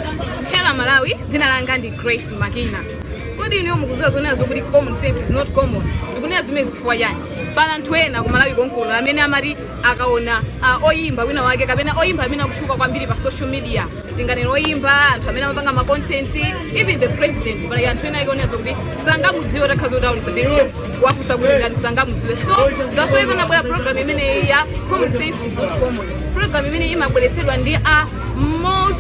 Hello Malawi, dzina langa ndi Grace Makina. Kodi inu mukuziwa zonena zokuti common sense is not common? Ndikunena zimene chifukwa chani? Pali anthu ena ku Malawi konkuno amene amati akaona uh, oyimba wina wake kapena oyimba amene akutchuka kwambiri pa social media tinganena oyimba anthu amene amapanga ma content even the president pali anthu ena ake onena zokuti sangamudziwe takhala kuti taonesa picture wafusa kuti ndani sangamudziwe so that's why nabwera program imeneyi ya common sense is not common program imene imabweretsedwa ndi a Moors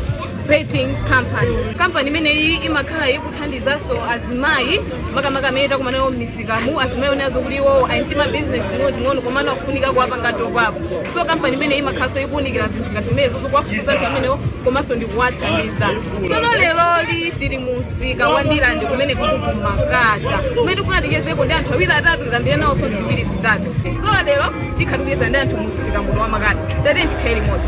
Betting Company. Kampani imeneyi imakhala ikuthandizanso azimayi makamaka amene takumana nawo m'misikamu azimayi onenazo kuti iwowo ali ndi mabizinesi ing'onoing'ono komano akufunika kuwapanga top up so kampani imeneyi imakhalanso ikuwunikira zinthu ngati zimenezo zokuwafufuza anthu amenewo komanso ndikuwathandiza tsono leroli tili mu msika wa Ndirande kumene kuno ku Makata kumene tikufuna tichezeko ndi anthu awiri atatu tikambire nawonso ziwiri zitatu so lero tikhala tikucheza ndi anthu mu msika muno wa Makata tate ndikhaye limodzi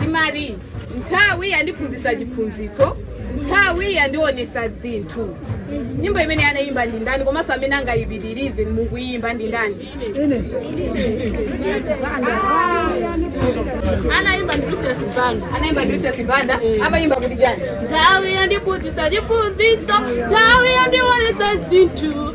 timati nthawi yandiphunzitsa chiphunzitso nthawi yandionesa zinthu nyimbo imene anayimba ndi ndani komanso amene angayipitirize mukuyimba ndi ndani anayimba ndi Lucius Banda anayimba ndi Lucius Banda amayimba kuti chani nthawi yandiphunzitsa chiphunzitso nthawi yandionesa zinthu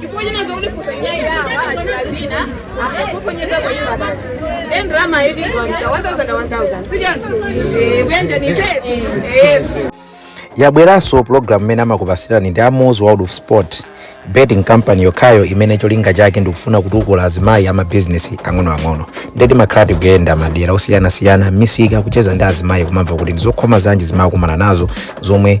chifukwa chinanza kuti kusainaidawa atchula dzina akuponyeza kuimba but then drama yiti kuamsa 1000 1000 sijanzu kuyanjanise yabweranso pulogalamu imene amakupasirani ndi a Moors World of sport betting company yokhayo imene cholinga chake ndikufuna kutukula azimayi amabizinesi ang'onoang'ono nde timakhala tikuyenda madera osiyanasiyana misika kucheza ndi azimayi kuwamva kuti ndizokhoma zanji zimene akumana nazo zomwe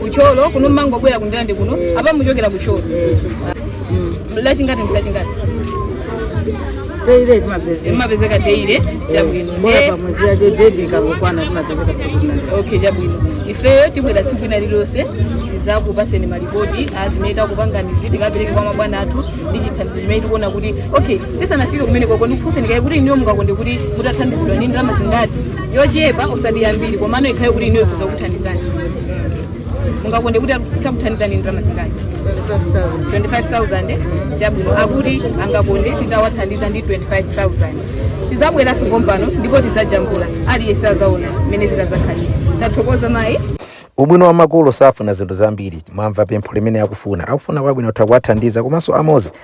ku Thyolo kuno mumangobwera ku Ndirande kuno apa muchokera ku Thyolo lachingati ndi lachingati teire timapezeka imapezeka teire chabwino bola Eh, pamwezi yacho date ikangokwana timapezeka siku linali okay chabwino ifeyo tibwera tsiku lina lililonse tizakupaseni malipoti azimene takupanganizi tikapereke kwa mabwana athu ndi chithandizo chimene tikuona kuti okay tisanafike kumenekoko ndikufunseni kaye kuti inuyo mungakonde kuti mutathandizidwa ndi ndalama zingati yochepa osati yambiri komano ikhale kuti inu ikhoza kuthandizani mungakonde kuti titakuthandizani ndalama zingati 25000 chabwino akuti angakonde titawathandiza ndi 25000 tizabweranso pompano ndipo tizajambula aliyense azaona mmene zitazakhalira tathokoza mayi ubwino wa makolo safuna zinthu zambiri mwamva pempho limene akufuna akufuna kwabwino kutha kuwathandiza komanso a Moors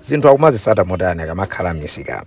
Zinthu akumazitsata motani akamakhala m'misikamu?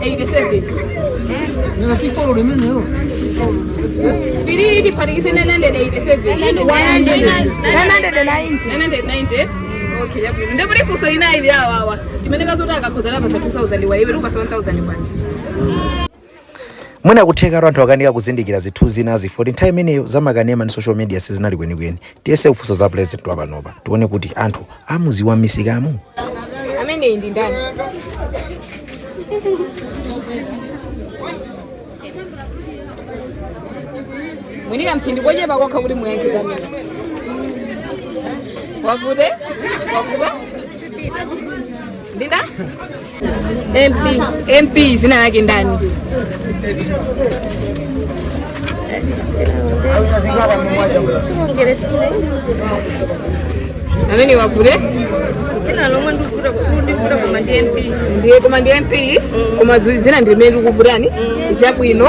87 Nina si follow the menu. biri ilifanikise 987 990 okay chabwino nde kuti funso lina ili awa awa timene kazoti akakhoza tiwapatsa 2000 wa iwe tiwapatsa 1000 kwacha mwina kutheka anthu akanika kuzindikira zinthu zinazi for the nthawi imeneyo zamakanema ndi social media sizinali kwenikweni tiyese kufunsa za president wa panopa tione kuti anthu amudziwa m'misikamu ameneyi ndi ndani mwenika mphindi kochepa kokha kuti muyankhe amene wavude wavuda ndinda MP. MP dzina lake ndani? Amene wavule? Dzina lomwe ndikuvula ndikuvula koma ndi MP. Ndiye koma ndi MP koma dzina ndi limene likuvutani chabwino.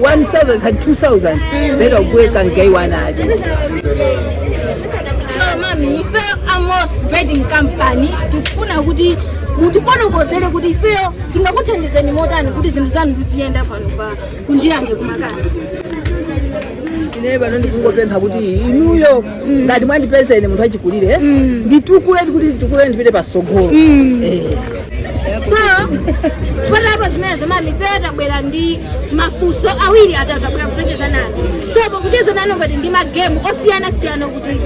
1000 kati 2000 pera kuweka mgaiwana atani so mami ife amos betting company tikufuna kuti mutifotokozere kuti ifeyo tingakuthandizeni motani kuti zinthu zanu zidziyenda pano pa kundiyange kumakati ine pano ndikungopempha kuti inuyo ngati mwandipeza ine munthu wachikulire nditukule kuti nditukule ndipite patsogolo so patapa zimenezo mami ifeyo tabwera ndi mafunso awiri atatu tabwera kudzacheza nanu so pakucheza nanu tili ndi magemu osiyanasiyana kuti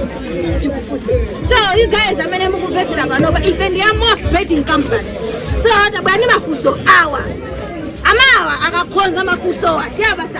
tikufunse so you guys amene mukumvetsera panopa ife ndi Amos betting company so tabwera ndi mafunso awa amayiwa akakhoza mafunsowa tiwapatsa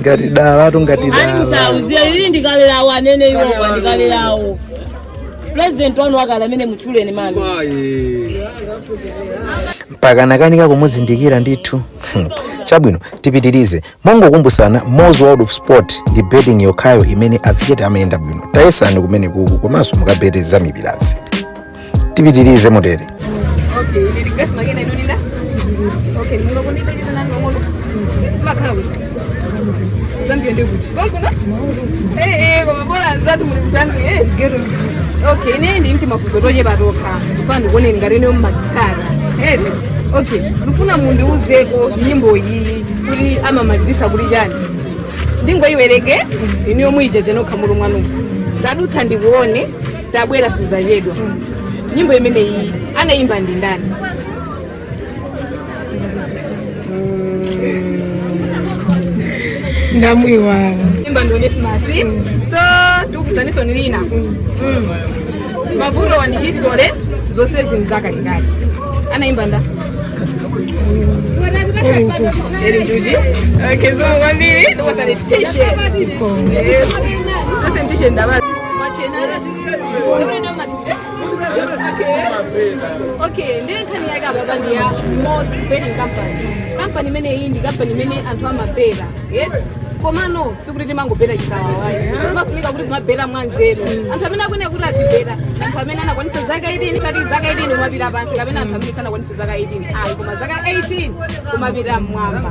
ngati dala atu ngati dala alimsauziya ili ndikalerawo anene iwowa ndikalerawo pulezidenti wanu wakale amene mutchuleni mami mpaka nakanika kumuzindikira ndithu Hmm. chabwino tipitirize mongokumbutsana mozi world of sport ndi betting yokhayo imene matikete amayenda bwino tayesani kumene kuku komanso mukabete za mipirazi tipitirize motere Okay, ni request dzina lanu ndani. Okay, munga kundipa ichi sana ngomolo. Makhala kuti. Zambia ndi kuti. Konkuno? Eh eh, koma bora nzatu muli Zambia eh. Gero. Okay, ine ndi timafunso tochepa tokha. Mfuna kuona ngati nyimbo mumazitsata. Eh. Okay, ndifuna mundiuzeko nyimbo iyi kuti amamalizitsa kuti chani. Ndingoyiwereke ine yomwe ija ija nokha mulungu wanu. Ndadutsa ndikuone tabwera suzachedwa nyimbo imeneyi anayimba ndi ndani ndamwiwala waimba ndi Onesimus so tikufunsani funso lina Mm. mavuto wa ni history zonse zinthu zakalekale anayimba ndani Eli Njuchi okay zikomo kwambiri ndikupatsani t-shirt zosani t-shirt ndaba okay ndiye nkhani yake ababa ndi ya Moors betting company kampani imene iyi ndi kampani imene anthu amabetcha yes komano sikuti timangobetcha chisawawayi timafunika kuti kumabetcha mwanzeru anthu amene akuyenera kuti azibetcha anthu amene anakwanisa zaka 18 osati zaka 18 kumapita pansi kapena anthu amene sanakwanisa zaka 18 ayi koma zaka 18 kumapita mmwamba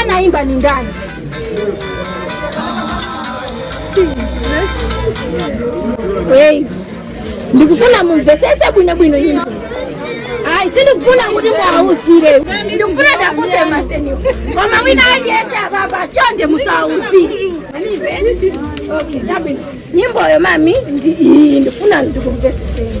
Anaimba ni ndani? Wait. Ndikufuna mumvetsetse bwino bwino nyimbo. Ayi sindikufuna kuti muwawuzire. Ndikufuna ndafunsa masteni. Koma wina aliyense ababa chonde musawauzire. Okay, chabwino. Nyimboyo mami ndi iyi ndikufuna ndikumvetseni.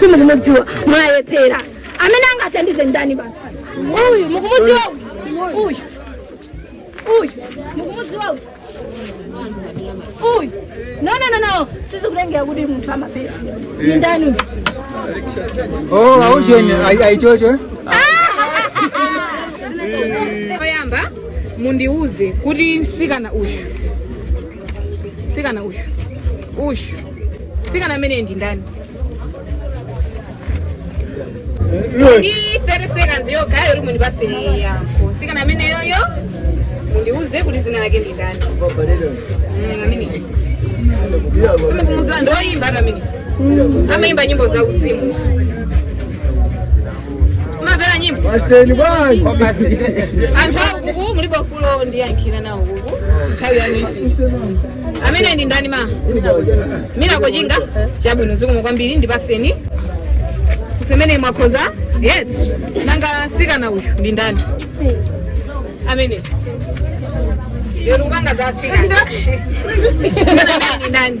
simukumudziwa mwalephera amene angathandize ndani basi uyu mukumudziwa uyu uyu uyu mukumudziwa uyu uyu no no no no sizikutengera kuti munthu amalephera ni ndani uyu Oh, aujeni ayi choncho. oyamba mundiuze kuti msikana uyu msikana uyu uyu msikana ameneyu ndi ndani ndi 30 seconds yokha yoti mundipatse yankho msikana ameneyoyo mundiuze kuti dzina lake ndi ndani Mm, amene simukumudziwa ndi oyimba ati amene amayimba nyimbo za uzimu mumamvera nyimbo Pasiteni bwanji. anthu akuku mulipo fulo ndiyankhira nawo kuku nthawi ya misi ameneyu ndi ndani ma mina kochinga chabwino zikomo kwambiri ndipatseni kusemene mwakhoza yes nanga mtsikana uyu ndi ndani amene lero kupanga za atsikana Mtsikana ameneyu ndi ndani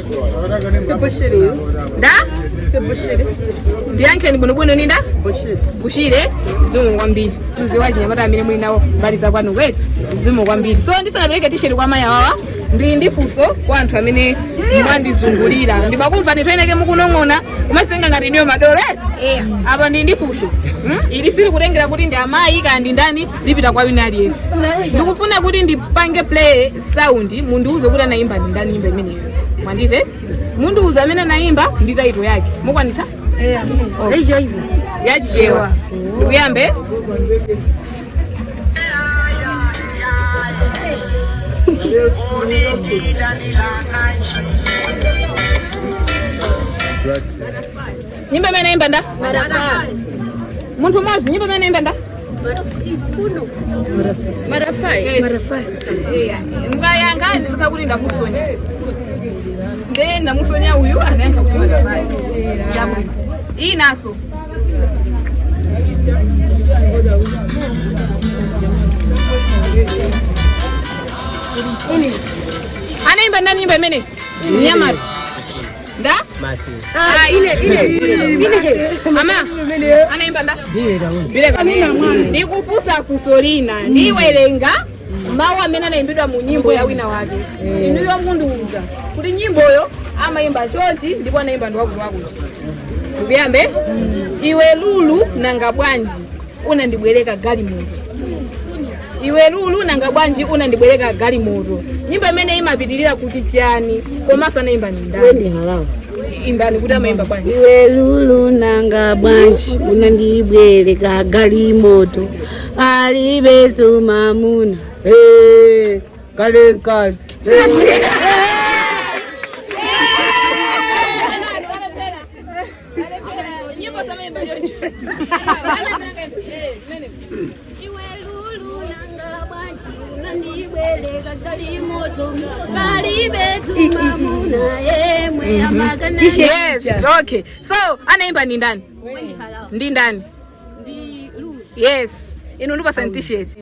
nda ndiyankheni bwinobwino ndi nda bushire zikomo kwambiri mukudziwa achinyamata amene muli nawo mbali za kwanu eti zikomo kwambiri so ndisanapereke tisheti kwa mayi awawa ndili ndi funso kwa anthu amene mwandizungulira ndimakumva ndithu eneake mukunong'ona mumadzitenga ngati inuyo madolo eti apa ndili ndi funso Hmm? ili sili kutengera kuti ndi amayi kaya ndi ndani lipita kwa wina aliyense ndikufuna kuti ndipange play sound mundiuze kuti anayimba ndi ndani nyimbo imeneyo mwandimva mundiuze amene anayimba ndi title yake mukwanisa Oh. yachichewa tikuyamba Right. Nyimbo imeneyi anaimba nda? Munthu mmodzi nyimbo imeneyi anaimba nda? Marafai. Marafai. Eh, muziyankha ndikakhala kuti ndakusonya. Ndiye ndamusonya uyu anayankha kuti marafai. Chabwino. Iyi inanso. Anaimba ndani nyimbo imene? Nyamata. nda masi Ah, ine ine ine ama anaimba nda bile kanena ndikufunsa funso lina ndiwerenga mawu amene anaimbidwa mu nyimbo ya wina wake inuyo mundiuza kuti nyimboyo amaimba chonchi ndipo anaimba ndi wakutiwakuti tikuyamba iwe lulu nanga bwanji unandibwereka galimoto iwe lulu nanga bwanji unandibwereka galimoto nyimbo imeneyi imapitirira kuti chiyani komanso anaimba ndi ndani Wendy Harawa imbani kuti amaimba bwanji iwe lulu nanga bwanji unandibwereka galimoto kalibenso mamuna Eh, kalibe mkazi Eh. Iwe lulu nanga bwanji unandibwereka galimoto kalibe mwamuna yemwe amakana yes okay so anaimba ndi ndani ndi ndani ndi lulu yes inu ndikupatsani t-shirt